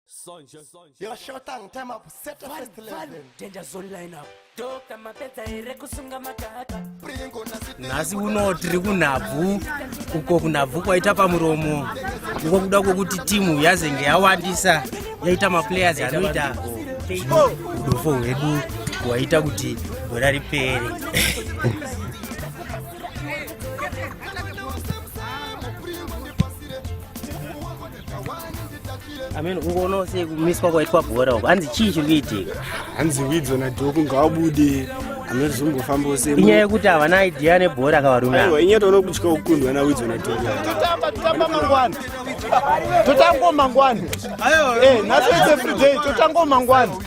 Sonja, sonja. Yo, short time, time up, set the first level. Danger zone line up. Doka mapedza here kusunga makaka. Pringo na sitini. Nhasi uno tiri kunhabvu uko kunhabvu kwaita pamuromo uko kuda kwokuti timu yazenge yawandisa yaita maplayers anoita udofo hwedu hwaita kuti gora ripere amene kungoona sei kumiswa kwaitwa bhora uko hanzi chii chiri kuitika hanzi widzo nadhoku ngawabude amene zvizombofambawo sei inyaya yekuti havana idea nebhora akavarume aiwa inyaya taona kutya kukundwa nawidzo nadhoku totamba totamba mangwana totango mangwana eh, nhasi its every day totango mangwana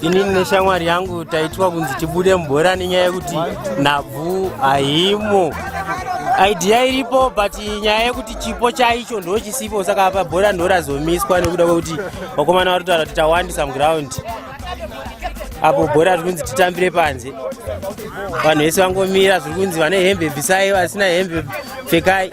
ini neshamwari yangu taitwa kunzi tibude mubhora nenyaya yekuti nhabvu haimo idea iripo but nyaya yekuti chipo chaicho ndo chisipo saka apa bhora ndo razomiswa nekuda kwekuti vakomana vari kutaura kuti tawandisa muground apo bhora riri kunzi titambire panze vanhu vese vangomira zviri kunzi vane hembe bvisai vasina hembe pfekai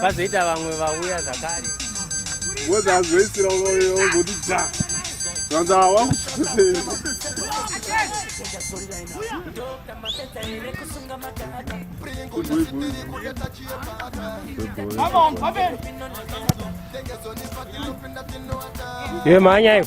pazoita vamwe vauya zvakare woda azoisira ongoti dha vanza wakuee ye mhanya iyo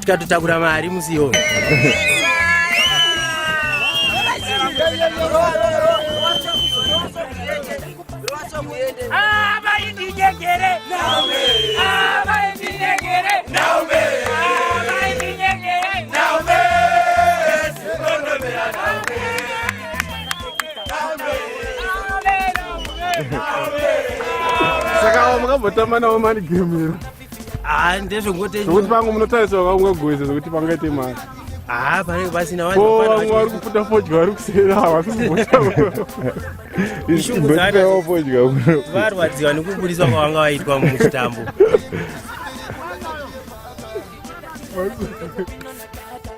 tikatotakura mari musi iyoyo saka wamukambotamba nawo mani gemira haa ndezvongote zvekuti pangu munotariswa vaungagoisa zvekuti pangaite mari haa panenge pasina vamwe vari kuputa fodya vari kusera havasi kuvarwadziwa nekuburitswa kwavanga vaitwa muchitambo